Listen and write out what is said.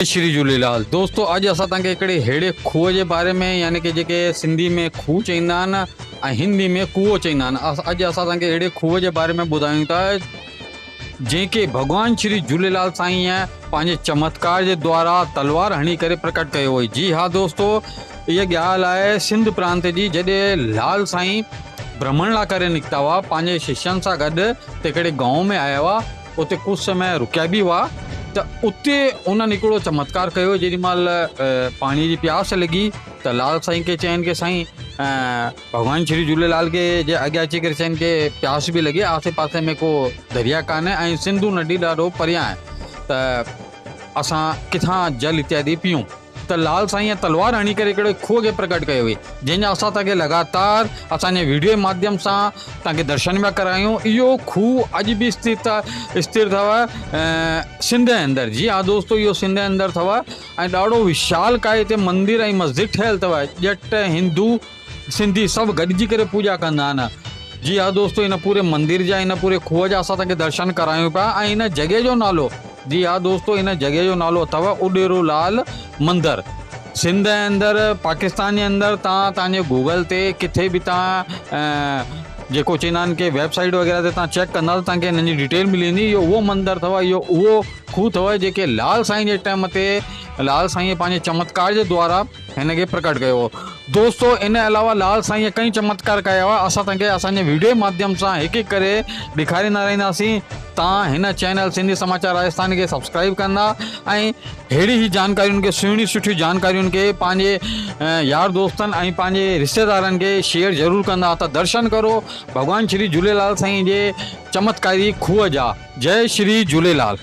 جي شري جهوليلال دوستو اڄ اسان توهان کي هڪڙي ههڙي کوهه جي باري ۾ يعني ڪي جيڪي سنڌي ۾ کوهه چئيندا آهن ۽ هندي ۾ ڪوئو چئيندا آهن اڄ اسان توهان کي ههڙي کوهه جي باري ۾ ٻڌايون ٿا جنهن کي ڀڳوان شري جهوليلال سائين پنهنجي چمتڪار جي دوارا تلوار هڻي ڪري پرڪٽ ڪيو هئي جي ها دوستو هيء ڳالهه آهي سنڌ پرانت جي جڏهن لال سائين برهمڻ لا ڪري نڪتا هئا پنهنجي ششين سان گڏ هڪڙي گائون ۾ آيا هئا اتي ڪجهه سمي رڪيا به هئا ته اتي انهن هڪڙو چمتڪار ڪيو جيڏي مهل پاڻي جي پياس لڳي ته لال سائين کي چين ڪي سائين ڀڳوان شري جهوليلال کي جي اڳيان اچي ڪري چين ڪي پياس به لڳي آسي پاسي ۾ ڪو دريا ڪانه ۽ سنڌو ندي ڏاڍو پريان آهي ته اسان ڪٿان جل اتيادي پيئون ته لال سائينء تلوار هڻي ڪري هڪڙي کوهه کي پرگهٽ ڪيو هئي، جنهن جا اسان توهان کي لڳاتار اسان جي ويڊيو جي ماڌيم سان توهان کي درشن پيا ڪرايون. اهو کوهه اڄ به استر اٿو سنڌ جي اندر، جي ها دوستو اهو سنڌ جي اندر اٿو ۽ ڏاڍو وشال ڪاء هتي مندر ۽ مسجد ٺهيل اٿو، ڄٽ، هندو، سنڌي سڀ گڏجي ڪري پوڄا ڪندا آهن. جي ها دوستو ان پوري مندر جا ان پوري کوهه جا اسان توکي درشن ڪرايون پيا ۽ ان جڳهه جو نالو جي ها دوستو ان جڳهه جو نالو اٿو اڏيرو لال مندر سنڌ ۽ اندر پاڪستان جي اندر تان تان جي گوگل تي ڪٿي به تان جيڪو چيندا آهن ڪي ويب سائيٽ وغيره تي تان چيڪ ڪندا تان کي انهن جي ڊيٽيل ملي ويندي اهو اهو مندر اٿو اهو اهو کوهه اٿو جيڪي لال سائين جي ٽائيم تي لال سائين پنهنجي چمتڪار جي دوارا هن کي پرگهٽ ڪيو هو. دوستو ان علاوه لال سائينء ڪئين چمتڪار ڪيا هئا اسان توهان کي اسان جي ويڊيو جي ماڌيم سان هڪ هڪ ڪري ڏيکاريندا رهنداسين توهان هن چينل سنڌي سماچار راجسٿاني کي سبسڪرائيب ڪندا ۽ ههڙي هي جانڪاريون کي سهڻيون سٺيون جانڪاريون کي پنهنجي يار دوستن ۽ پنهنجي رشتيدارن کي شيئر ضرور ڪندا ته درشن ڪرو ڀڳوان شري جهوليلال سائين جي چمتڪاري کوهه جا جئي شري جهوليلال.